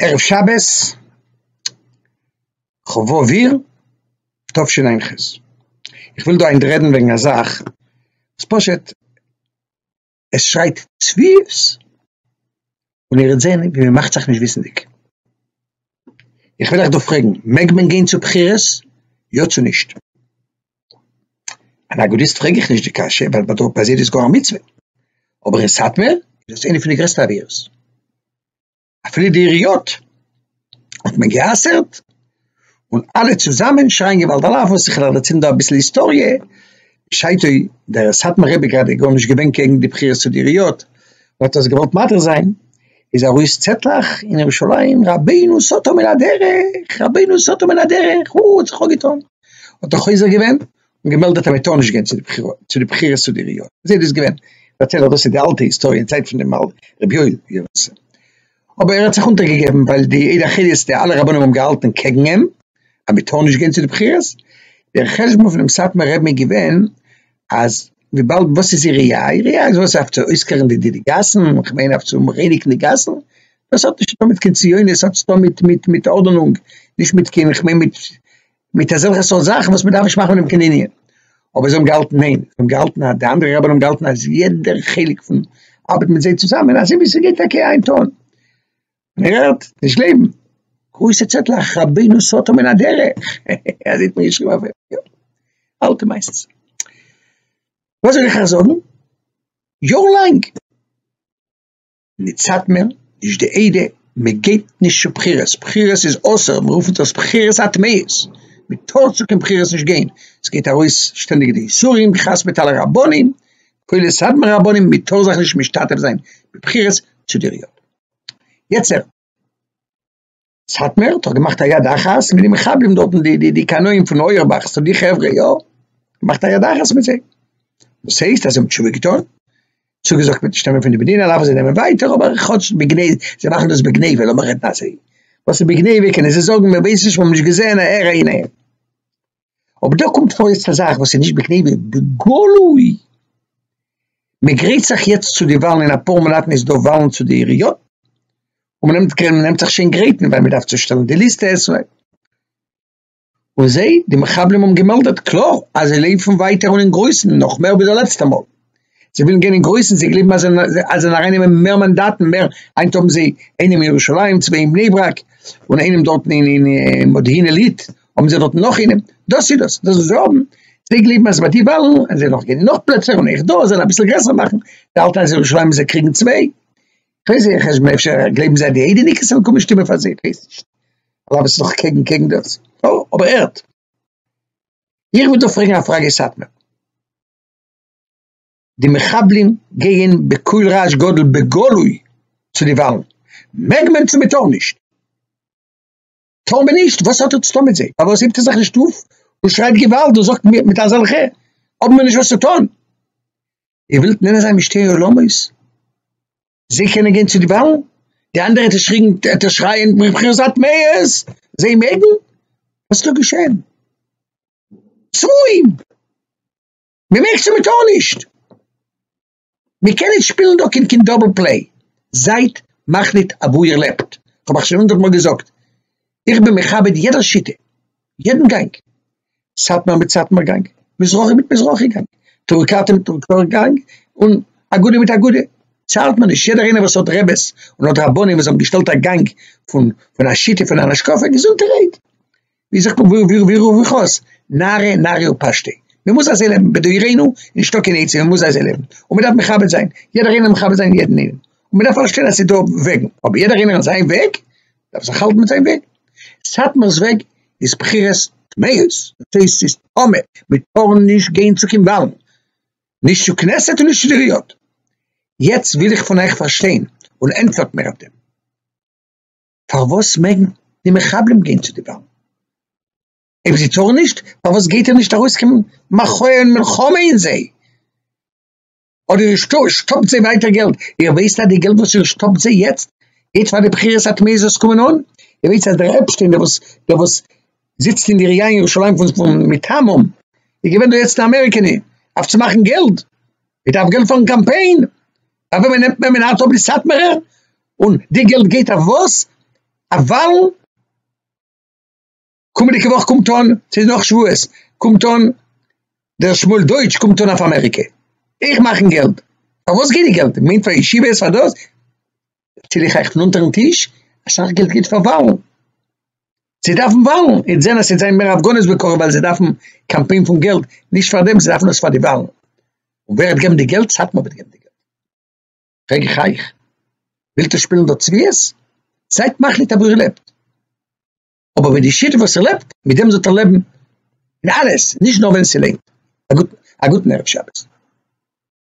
ערב שבת כ ו אייר תשע"ח, איך וויל דא היינט רעדן וועגן א זאך וואס פשוט עס שרייט צביעות, און איר וועט זען ווי מען מאכט זיך נישט וויסענדיג, איך וויל אייך דא פרעגן, מעג מען גיין צו בחירות יא צו נישט? אן אגודיסט פרעג איך נישט די קשיא ווייל ביי דארט ביי זיי איז דאס גאר א מצוה, אבער אין סאטמער איז דאס איינע פון די גרעסטע עבירות, אפילו די עיריות האט מען גע'אסר'ט, און אלע צוזאמען שרייען געוואלד על אף וואס איך וועל דערציילן דא אביסל היסטאריע, בשעתו דער סאטמאר רבי גראדע גארנישט געווען קעגן די בחירות צו די עיריות, ער האט עס געוואלט מתיר זיין, איז ארויס צעטלעך אין ירושלים רבינו סאטא מן הדרך, רבינו סאטא מן הדרך, האט זיך אנגעטון. האט ער חוזר געווען און געמעלדעט אז מען טאר נישט גיין צו די בחירות צו די עיריות, אזוי איז דאס געווען, מ'פארציילט אז דאס איז די אלטע היסטאריע אין צייט פון דעם רבי יואל ווי ער האט עס, אבער ער האט זיך אונטערגעגעבן ווייל די עדה החילית די אלע רבנים האבן געהאלטען קעגן אים אז מען טאר נישט גיין צו די בחירות, דער חשבון פונעם סאטמאר רעבן איז געווען אז וויבאלד וואס איז איר ראי'? איר ראי' איז וואס אויף צו אויסקלארן די די גאסן, כ'מיין אויף צו רייניגן די גאסן, דאס האט נישט צוטון מיט קיין ציונות, עס האט צוטון מיט מיט מיט ארדענונג, נישט מיט קיין כ'מיין מיט מיט אזעלכע סארט זאכן וואס מען דארף נישט מאכן פון דעם קיין ענין. אבער זיי האבן געהאלטן ניין, זיי האבן געהאלטן אז די אנדערע רבנים האבן געהאלטן אז יעדער חלק פון ארבעט מיט זיי צוזאמען אזוי ווי ס'גייט טאקע היינט אן, און ער הערט נישט לעבן. גרויסע צעטלעך רבינו סאטא מן הדרך, אזוי האט מען געשריבן אויף אים, יא, אלטע מעשות. וואס זאל איך אייך זאגן, יאר לאנג נישט סאטמער, נישט די עדה, מען געבט נישט צו בחירות, בחירות איז אסור, מען רופט דאס בחירות הטמאות, מען טאר צו קיין בחירות נישט גיין, עס גייט ארויס שטענדיג די איסורים, כעס מיט אלע רבנים, כולל סאטמאר רבנים, מען טאר זיך נישט משתתף זיין בבחירות צו די ר י. יצר. סאטמער האט געמאכט א יד אחת מיט די מחבלים דארטן, די די די קנאים פון אויערבאך, ס'דא די חברה יא, געמאכט א יד אחת מיט זיי, דאס הייסט אז זיי האבן תשובה געטון, צוגעזאגט מיט שטעמען פון די מדינה דארפן זיי נעמען ווייטער אבער כאטש בגניבה, זיי מאכן דאס בגניבה, לאמיר רעדן אזוי, וואס איז בגניבה קענען זיי זאגן מיר ווייסן נישט מיר האבן נישט געזען א הערה אין איהם. אבער דא קומט פאר יעצט א זאך וואס איז נישט בגניבה, בגלוי! מען גרייט זיך יעצט צו די וואלן, אין אפאר מאנאטן איז דא וואלן צו די עיריות, און מען נעמט מען נעמט זיך שוין גרייטן ווייל מען דארף צושטעלן די ליסטע עס ו. און זיי, די מחבלים האבן געמעלדעט קלאר אז זיי לויפן ווייטער און אין גרויסן, נאך מער ווי די לעצטע מאל. זיי ווילן גיין אין גרויסן, זיי גלייבן אז זיי זענען ארייננעמען מער מאנדאטן, מער, היינט האבן זיי איינעם אין ירושלים, צוויי אין בני ברק, און איינעם דארטן אין מודיעין עילית, האבן זיי דארטן נאך איינעם, דאס איז דאס, דאס וואס זיי האבן, זיי גלייבן אז ביי די וואלן וועלן זיי נאך גיין אין נאך פלעצער און אויך דא זאל אביסל גרעסער מאכן די אלטע אז ירושלים זאל קריגן צוויי, כ'ווייס נישט, חשבון אפשר גלייבן זיי אז די איידעניקעס וועלן קומען שטימען פאר זיי, כ'ווייס נישט, אבער עפעס איז דאך קעגן קעגן דאס, אבער הערט, איך וויל דא פרעגן א פראגע סאטמאר. די מחבלים גייען בקול רעש גדול בגלוי צו די וואלן, מעג מען צו מען טאר נישט? טאר מען נישט? וואס האט ער צו טון מיט זיי? פארוואס הייבט ער זיך נישט אויף און שרייט געוואלד און זאגט מיט אזעלכע האבן מיר נישט וואס צו טון? איר ווילט נענען זיין מיט שתי עולמות? זיי קענען גיין צו די וואלן? די אנדערע צושריגן עטס שרייען מבחירות הטמאות זיי מעגן? וואס איז דא געשען? צבועים! מען מעג צו מען טאר נישט, מען קען נישט שפילן דא קען קען דאבל פלעי, זייט מחליט אוואו איר לעבט, כ'האב אייך שוין הונדערט מאל געזאגט, איך בין מכבד יעדער שיטה, יעדן גאנג, סאטמאר מיט סאטמאר גאנג, מזרחי מיט מזרחי גאנג, טורקאטע מיט טורקאטע גאנג, און אגודה מיט אגודה, צארט מען נישט, יעדער איינער וואס האט רעבעס און האט רבנים וואס האבן געשטעלט א גאנג פון פון א שיטה פון אן השקפה, געזונטע רייד, ווי זאגט מען ווי ווי ווי ווי חוז נרי נרי ופשטי מען מוז אזוי לעבן בדורינו נישטא קיין עצה מען מוז אזוי לעבן און מען דארף מכבד זיין יעדער איינער מכבד זיין יעדן איינעם און מען דארף פארשטיין אז ס'איז דא וועגן אבער יעדער איינער און זיין וועג דארף זיך האלטן מיט זיין וועג סאטמאר'ס וועג איז בחירות טמאות דאס הייסט ס'איז טמא מען טאר נישט גיין צו קיין וואלן נישט צו כנסת און נישט צו די ריאות יעצט וויל איך פון אייך פארשטיין און ענטפערט מיר אויף דעם. פארוואס מעגן די מחבלים גיין צו די באמבע? אויב זיי טארן נישט, פארוואס גייט ער נישט ארויסקומען מאכן אן מלחמה אין זיי? אדער איר שטופט זיי ווייטער געלט, איר ווייסט אז די געלט וואס איר שטופט זיי יעצט, גייט פאר די בחירות הטמאות וואס קומען אן? איר ווייסט אז דער עפשטיין דער וואס דער וואס זיצט אין די עירייה אין ירושלים פון מטעמים, איז געווען דא יעצט אין אמעריקע אויף צו מאכן געלט, ער דארף געלט פארן קאמפיין, אויף וועמען נעמט מען מינהל טוב די סאטמארע און די געלט גייט אויף וואס אויף וואלן קומענדיגע וואך קומט אן ס'איז נאך שבועות קומט אן דער שמואל דויטש קומט אן אויף אמעריקע איך מאכן געלט פאר וואס גייט די געלט מינט פאר ישיבות פאר דאס ציל איך אייך פון אונטערן טיש אסאך געלט גייט פאר וואלן. זיי דארפן וואלן, יעצט זענען עס יעצט זענען מער הפגנות ווי קארגע ווייל זיי דארפן קאמפיין פון געלט, נישט פאר דעם, זיי דארפן עס פאר די וואלן, און ווער וועט געבן די געלט? סאטמאר וועט געבן די געלט, פרעג איך אייך, ווילט איר שפילן דא צביעות? זייט מחליט אוואו איר לעבט, אבער מיט די שיטה וואס איר לעבט, מיט דעם זאלט איר לעבן אין אלעס, נישט נאר ווען ס'לענגט, א גוטן ערב שבת.